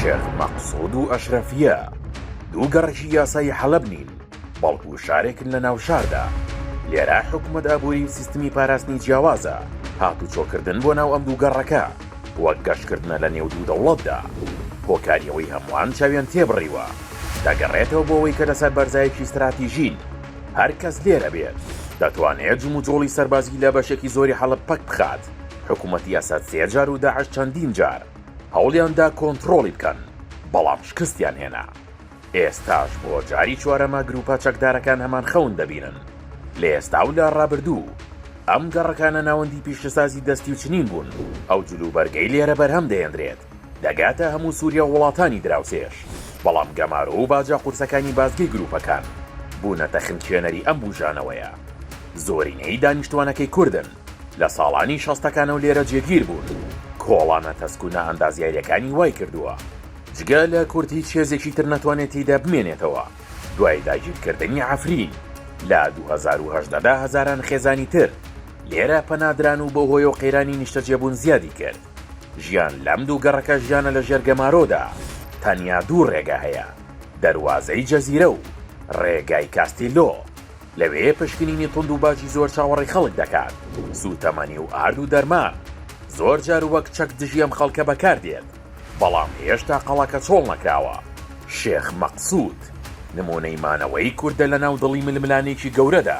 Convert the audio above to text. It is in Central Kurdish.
شێخ مەقسود و ئەشرەفیە دوو گەڕەکی یاسایی حەلەب نین بەڵکو شارێکن لە ناو شاردا لێرا حکومەت ئابووری و سیستمی پاراستنی جیاوازە هاتو چۆکردن بۆ ناو ئەم دوو گەڕەکە وەک گەشتکردنە لە نێو دوو دەوڵەتدا هۆکاریەوەی هەمووان چاویان تێبڕیوە دەگەڕێتەوە بۆەوەی کە لەسەر بەرزایەکی ستراتیژین هەر کەس لێرە بێت دەتوانێت جموجۆڵی سەربازی لە بەشێکی زۆری حەڵب پەک بخات حکومەتی ئەسەد سێ جار و داعش چەندین جار هەوڵیان دا کۆنتڕۆڵی بکەن، بەڵام شکستیان هێنا. ئێستاش بۆ جاری چوارەمە گرووپە چەکدارەکان هەمان خەون دەبینن. لە ئێستا و لە ڕابردوو، ئەم گەڕەکانە ناوەندی پیشەسازی دەستی و چنین بوون. ئەو جلوبەرگەی لێرە بەرهەم دەهێندرێت، دەگاتە هەموو سووریا و وڵاتانی دراوسێش. بەڵام گەمارۆ و باجە قورسەکانی بازگەی گرووپەکان، بوونەتە خنکێنەری ئەم بووژانەوەیە. زۆرینەی دانیشتووانەکەی کوردن. لە ساڵانی شەستەکان و لێرە جێگیر بوون، کۆڵانە تەسک و نائەندازیاریەکانی وای کردووە جگە لە کورد هیچ هێزێکی تر نەتوانێت تیدا بمێنێتەوە، دوای داگیرکردنی عەفرین لە دوو هەزار و هەژدە دا هەزاران خێزانی تر لێرە پەنا دران و بەو هۆیەوە قەیرانی نیشتەجێبوون زیادی کرد، ژیان لەم دوو گەڕەکە ژیانە لە ژێر گەمارۆدا، تەنیا دوو ڕێگا هەیە، دەروازەی جەزیرە و ڕێگای کاستیلۆ. لەوێ پشکنینی توند و باجی زۆر چاوەڕێی خەڵک دەکات، سوتەمەنی و ئارد و دەرمان زۆر جار وەک چەک دژی ئەم خەڵکە بەکار دێت، بەڵام هێشتا قەڵاکە چۆڵ نەکراوە. شێخ مەقسود نمونەی مانەوەی کوردە لە ناو دڵی ململانێکی گەورەدا.